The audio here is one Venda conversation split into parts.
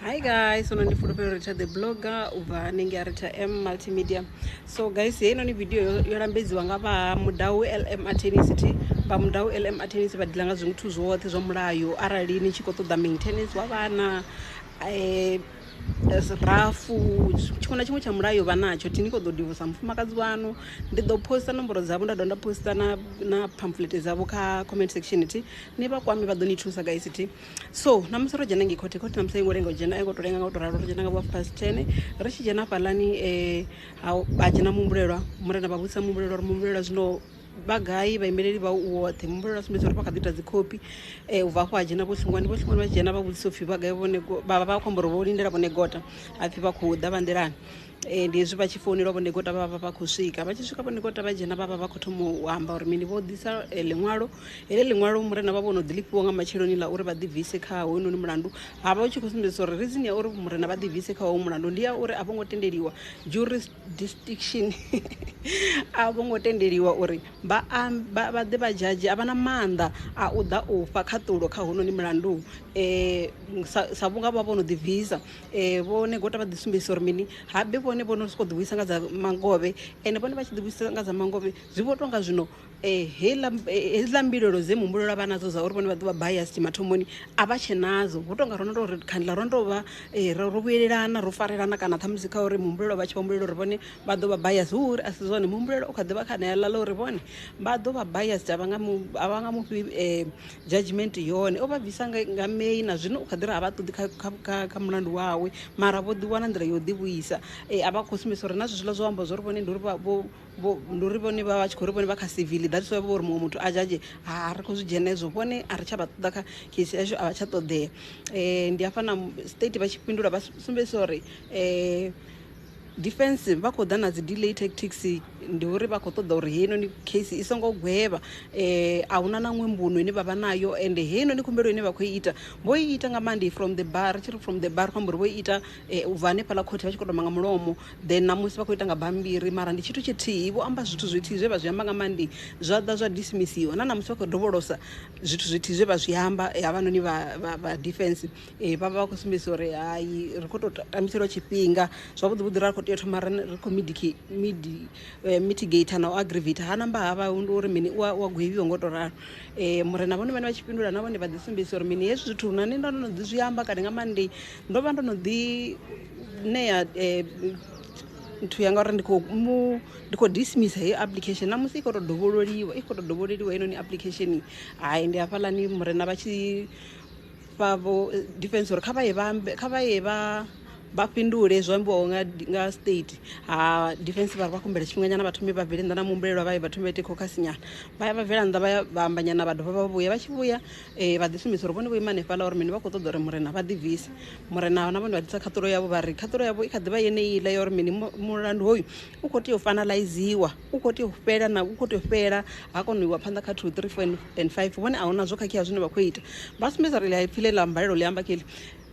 hi guys so ndi fulufhelo ri tsha the blogger u bva hanengei a ri tsha m multimedia so guys heinoni video yo lambedziwa nga vha mudau lm atenicity vha mudau lm atenicity vha dila nga zwithu zwoṱhe zwa mulayo arali ni tshi khou ṱoḓa maintenance wa vhana um rafu tshiṅwe na tshiṅwe tsha mulayo vha natsho thi ni kho ḓo divosa mufumakadzi wanu ndi ḓo posta nomboro dzavho nda dovha nda posta na na pamphlet dzavho kha comment section thi ni vha kwame vha ḓo ni thusa guys thi so ṋamusi ro dzhena ngei khothe khothe ṋamusi a i ngo lenga u dzhena a i ngo to lenga nga u to ralo ro dzhena nga vha fast ten ri tshi dzhena fhaḽani um ha dzhena muhumbulelwa murena vha vhudzisa muhumbulelwa uri muhumbulelwa zwino vha gai vhaimeleli vha u woṱhe muhumbulelwa a sumbedza uri vha kha ḓi ita dzi khophi um ubva afho ha dzhena vho hlingwani vho hlingwani vha dzhena vha vhudzisa upfhi vha gai vhone vha vha khou amba uri vho lindela vhone gota hapfhi vha khou ḓa vha nḓilani Ee, ndi hezwi vha tshi founelwa vhondekota vha vha vha khou swika vha tshi swika vhondekota vha dzhena vha vha vha khou thoma u amba uri mini vho ḓisa eh, ḽiṅwalo heḽi ḽiṅwalo murena vha vho no ḓi lifhiwa nga matsheloni ḽa uri vha ḓibvise kha hoyunoni mulandu ha vha u tshi khou sumbedzisa uri reason ya uri murena vha ḓibvise kha hoyu mulandu ndi ya uri a vho ngo tendeliwa jurisdiction a vho ngo tendeliwa uri vha am- vha vha ḓe vha dzhadzhe a vha na maanḓa a u ḓa u fha khaṱulo kha hounoni mulandu um sa sa vhunga vha vho no ḓibvisa Vho Negota vha ḓi sumbedzisa uri mini habe vhone vho no sokou ḓivhuisa nga dza mangovhe ende vhone vha tshi ḓivhuisa nga dza mangovhe zwi vho tonga zwino heiḽa hedziḽa mbilaelo dze muhumbulo vha nadzo dza uri vhone vha ḓuvha bias mathomoni a vha tshe nadzo vho tonga ro no tou ri khandela ro no tou vha ro vhuyelelana ro farelana kana ṱhamusi kha uri muhumbulo vha tshi vha humbulela uri vhone vha ḓo vha bias hu uri a si zwone muhumbulo u kha ḓivha kha ṋea ḽa ḽa uri vhone vha ḓo vha bias a vha nga mu a vha nga mufhi . Judgement yone o vha bvisa nga May na zwino u kha ḓi ri a vha ṱoḓi kha mulandu wawe mara vho ḓi wana nḓila yo ḓi vhuisa a vha khou sumbedzisa uri na zwezwiḽa zwo amba zwori vhone ndi uri ndi uri vhone vha vha tshi khou ri vhone vha kha civil that's why vho uri muṅwe muthu a judge ha ri khou zwi dzhena hezwo vhone a ri tsha vha ṱoḓa kha case yashu a vha tsha ṱoḓea ndi hafha na state vha tshi fhindula vha sumbedzisa uri Defence vha khou ḓa na dzi delay tactics ndi uri vha khou ṱoḓa uri heinoni case i songo gwevha eh, a huna na ṅwe mbuno ine vha vha nayo ende heinoni khumbelo ine vha khou i ita vho i ita nga monday from the bar ri tshi ri from the bar khou amba uri vho i ita eh, u bva hanefhaḽa khothe vha tshi khou tamba nga mulomo then namusi vha khou ita nga bammbiri mara ndi tshithu tshithihi vho amba zwithu zwithihi zwe vha zwi amba nga monday zwa ḓa zwa dismissiwa na namusi vha khou dovholosa zwithu zwithihi zwe vha zwi amba eh, havhanoni vha, vha, vha defence Ee vha vha vha khou sumbedzisa uri hai ri khou tou tambiselwa tshifhinga zwavhuḓi vhuḓi ra khou tea u thoma ri ri khou midiki midi eh, mitigate na u aggravator ha namba ha vha ndi uri mini u a u a gwevhiwa ngo tou ralo um murena vhone vhane vha tshi fhindula na vhone vha ḓi sumbedzisa uri mini hezwi zwithu na nṋe ndo no ḓi zwi amba kale nga maanḓei ndo vha ndo no ḓi ṋea um nthu yanga uri ndi khou mu ndi khou dismissa heyo application na musi i khou tou dovhololiwa i khou tou dovhololiwa heinoni application hai ndi hafhaḽani murena vha tshi fha vho defense uri kha vha ye vha ambe kha vha ye vha vha fhindule zwo ambiwaho nga nga state ha defense vha vha kumbela tshifhinganyana vha thome vha bvele nnḓa na muhumbulelwa vha ye vha thome vha ite khokhasi nyana vha ya vha bvela nnḓa vha ya vha amba nyana vha dovha vha vhuya vha tshi vhuya eh, vha ḓi sumbedza uri vhone vho ima hanefhaḽa uri mini vha khou ṱoḓa uri murena vha ḓibvise murena na vhone vha ḓisa khaṱulo yavho vha ri khaṱulo yavho i kha ḓi vha yeneiḽa ya uri mini mu- mulandu hoyu u khou tea u fanalaiziwa u khou tea u fhela na u khou tea u fhela ha kona u iwa phanḓa kha two three four and five vhone a huna zwo khakhea zwine vha khou ita vha sumbedza uri ḽi pfhi ḽe ḽa mbalelo ḽi amba kheḽi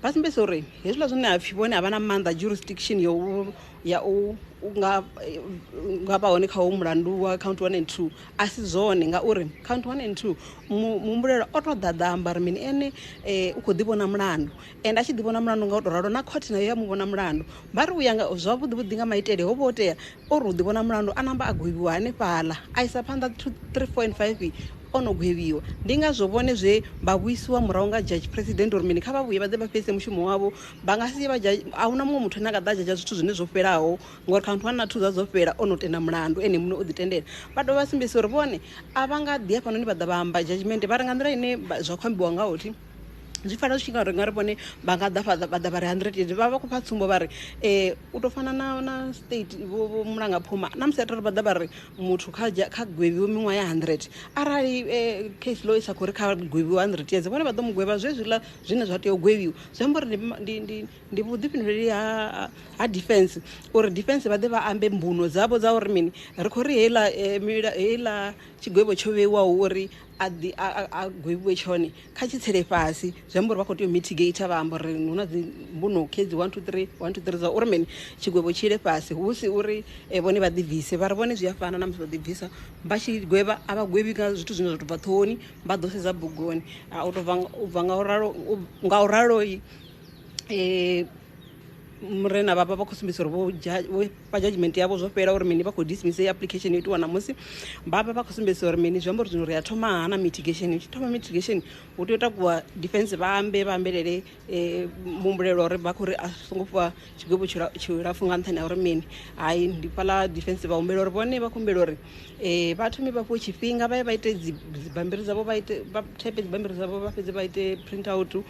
vha sumbedza uri hezwiḽa zwine ha pfhi vhone a vha na maanḓa jurisdiction ya u ya u nga nga vha hone kha ho mulandu wa count one and two a si zwone ngauri count one and two muhumbulela o to ḓaḓa amba uri mini ene um u khou ḓi vhona mulandu and a tshi ḓi vhona mulandu nga u to ralo na khothe nayo ya mu vhona mulandu vha ri u ya nga zwavhuḓi vhuḓi nga maitele ho vha ho tea o ri u ḓivhona mulandu a namba a gwevhiwa hanefhaḽa a isa phanḓa 2 3 4 and 5 ono gwevhiwa ndi ngazwo vhone zwe vha vhuisiwa murahu nga judge president uri mini kha vha vhuye vha ḓe vha fhedzise mushumo wavho vha nga si vha a huna muṅwe muthu ane a nga ḓa dzhadzha zwithu zwine zwo fhelaho ngori kha muthu wa na thu dza dzo fhela ono tenda mulandu ene muṋe o ḓi tendela vha dovha vha sumbedzisa uri vhone a vha nga ḓi hafhanoni vha ḓa vha amba judgment vha ri nga nḓila ine zwa khou ambiwa ngaho thi zwi fanela zwi tshi nga ri nga ri vhone vha nga ḓa vha ḓa vha ri 100 vha vha khou fha tsumbo vha ri um u to fana na na state vho vho mulanga phuma na musi atari vha ḓa vha ri muthu kha kha gwevhiwe miṅwaha ya 100 arali eh, case law isa khori kha gwevhiwe 100 years vhone vha ḓo mu gwevha zwe zwiḽa zwine zwa tea u gwevhiwa zwi amba uri ndi- ndi ndi ndi vhuḓifhinduleli ha ha defense uri defense vha ḓe vha ambe mbuno dzavho dza uri mini ri khou ri heiḽa eh, mila- heiḽa tshigwevho tsho vheiwaho uri a ḓi a gwevhiwe tshone kha tshi tsele fhasi zwi amba uri vha khou tea u mitigate vha amba uri hu na dzi mbuno khedzi one two three one two three dza uri mini tshigwevho tshi ile fhasi hu si uri eh, vhone vha ḓi bvise vha ri vhone zwi a fana na musi vha ḓi bvisa vha tshi gwevha a vha gwevhi nga zwithu zwine zwa tou bva ṱhohoni vha ḓo sedza bugoni a u tou bva u bva nga u ralo nga u raloi um murena vhavha vha khou sumbedzisa uri vho vha judgment yavho zwo fhela uri mini vha khou dismiss heyi application yo itiwa ṋamusi vha vha vha khou sumbedzisa uri mini zwi amba uri zwino ri a thoma ha na mitigation hu tshi thoma mitigation hu tea u takuwa defense vha ambe vha ambelele um muhumbulelwa uri vha khou ri a songo fhiwa tshigwevho tshilapfu nga nṱhani ha uri mini hai ndi fhaḽa defense vha humbela uri vhone vha khou humbela uri um vha thome vha fhiwe tshifhinga vha ye vha ite dzibammbiri dzavho vha ite vha thepe dzibammbiri dzavho vha fhedze vha ite print out um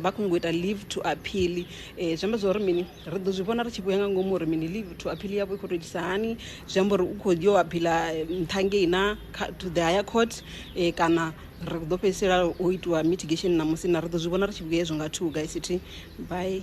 vha khou nyanga u ita leave to appeal um zwi amba zwa uri mini Ri ḓo zwi vhona ri tshi vhuya nga ngomu uri mini leave to appeal yavho i khou tou itisa hani zwi amba uri u khou yo aphila eh, nṱha ngei na to the higher court eh, kana ri ḓo fhedzisela o itiwa mitigation ṋamusi na ri ḓo zwi vhona ri tshi vhuya hezwo nga two guys thi bye